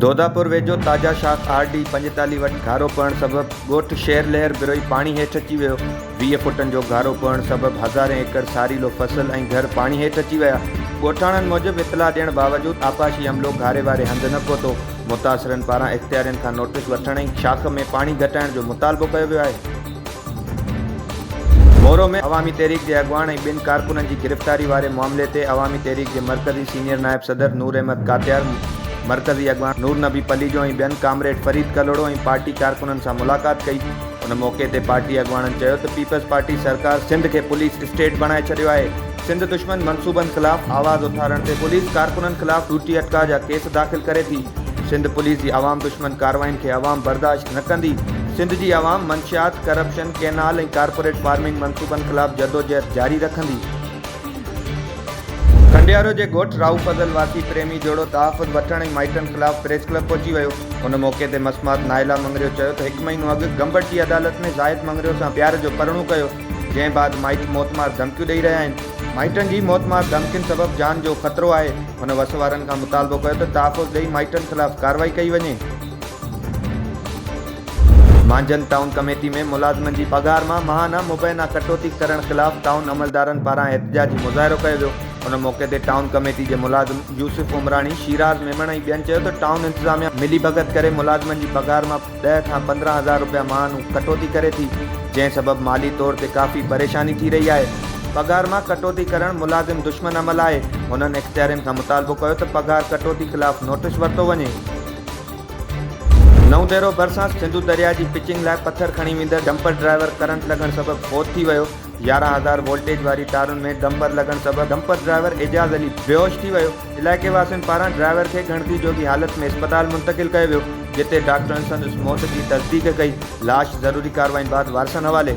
دوداپور ويجهو تازه شاخ آر ڊي پنجيتالي وٽ گهارو پوڻ سبب ڳوٺ شير لهر بروهي پاڻي هيٺ اچي ويو ويهه فوٽن جو گهارو پوڻ سبب هزارين ايڪڙ ساريلو فصل ۽ گهر پاڻي هيٺ اچي ويا ڳوٺاڻن موجب اطلاع ڏيڻ باوجود آبپاشي عملو گهاري واري هنڌ نه پهتو متاثرن پاران اختيارين کان نوٽيس وٺڻ ۽ شاخ ۾ پاڻي گهٽائڻ جو مطالبو ڪيو ويو آهي. مورو ۾ عوامي تحريڪ جي اڳواڻ ۽ ٻن ڪارڪنن جي گرفتاري واري معاملي تي عوامي تحريڪ جي مرڪزي سينيئر نائب صدر نور احمد ڪاتيار، مرڪزي اڳواڻ نور نبي پليجو ۽ ٻين ڪامريڊ فريد ڪلهوڙو ۽ پارٽي ڪارڪنن سان ملاقات ڪئي. ان موقعي تي پارٽي اڳواڻن چيو ته پيپلز پارٽي سرڪار سنڌ کي پوليس اسٽيٽ بڻائي ڇڏيو آهي، سنڌ دشمن منصوبن خلاف آواز اٿارڻ تي پوليس ڪارڪنن خلاف ڏوٽي اٽڪاء جا ڪيس داخل ڪري ٿي، سنڌ پوليس جي عوام دشمن ڪارروائين کي عوام برداشت نه ڪندي، سنڌ جي عوام منشيات، ڪرپشن، ڪئنال ۽ ڪارپوريٽ فارمنگ منصوبن خلاف جدوجهد جاري رکندي. کنڊيارو جي ڳوٺ راهو فضل واسي پريمي جوڙو تحفظ وٺڻ ۽ مائٽن خلاف پريس ڪلب پهچي ويو، ان موقعي تي مصمات نائلا مڱريو چيو ته هڪ مهينو اڳ گمبٽ جي عدالت ۾ زاهد مڱريو سان پيار جو پرڻو ڪيو، جنهن بعد مائٽ موت مار ڌمڪيون ڏئي رهيا آهن، مائٽن جي موت مار ڌمڪين سبب جان جو خطرو آهي، هن وس وارن کان مطالبو ڪيو ته تحفظ ڏئي مائٽن خلاف ڪارروائي ڪئي وڃي. مانجهند ٽائون ڪميٽي ۾ ملازمن جي پگهار مان ماهانه مبينا ڪٽوتي ڪرڻ خلاف ٽائون عملدارن پاران احتجاجي مظاهرو ڪيو ويو، ان موقعي تي ٽائون ڪميٽي جي ملازم يوسف عمراڻي، شيراز ميمڻ ۽ ٻين چيو ته ٽائون انتظاميا ملي ڀڳت ڪري ملازمن جي پگهار مان. ڏهه کان پندرهن هزار رپيا مان هو ڪٽوتي ڪري ٿي، جنهن سبب مالي طور تي ڪافي پريشاني ٿي رهي آهي. پگهار مان ڪٽوتي ڪرڻ ملازم دشمن عمل آهي، هنن اختيارين کان مطالبو ڪيو ته پگهار ڪٽوتي خلاف نوٽيس ورتو وڃي. نئون ديرو ڀرسان سنڌو درياء جي پچنگ لاء پٿر کڻي ويندڙ ڊمپر ڊرائيور ڪرنٽ لڳڻ سبب فوت ٿي ويو، يارهن هزار وولٽيج واري تارن ۾ ڊمبر لڳڻ سبب ڊمپر ڊرائيور اعجاز علي بيهوش ٿي ويو، علائقي واسين پاران ڊرائيور کي ڳڻتي جوڳي حالت ۾ اسپتال منتقل ڪيو ويو، جتي ڊاڪٽرن سندس موت جي تصديق ڪئي، لاش ضروري ڪارروائين بعد وارثن حوالي.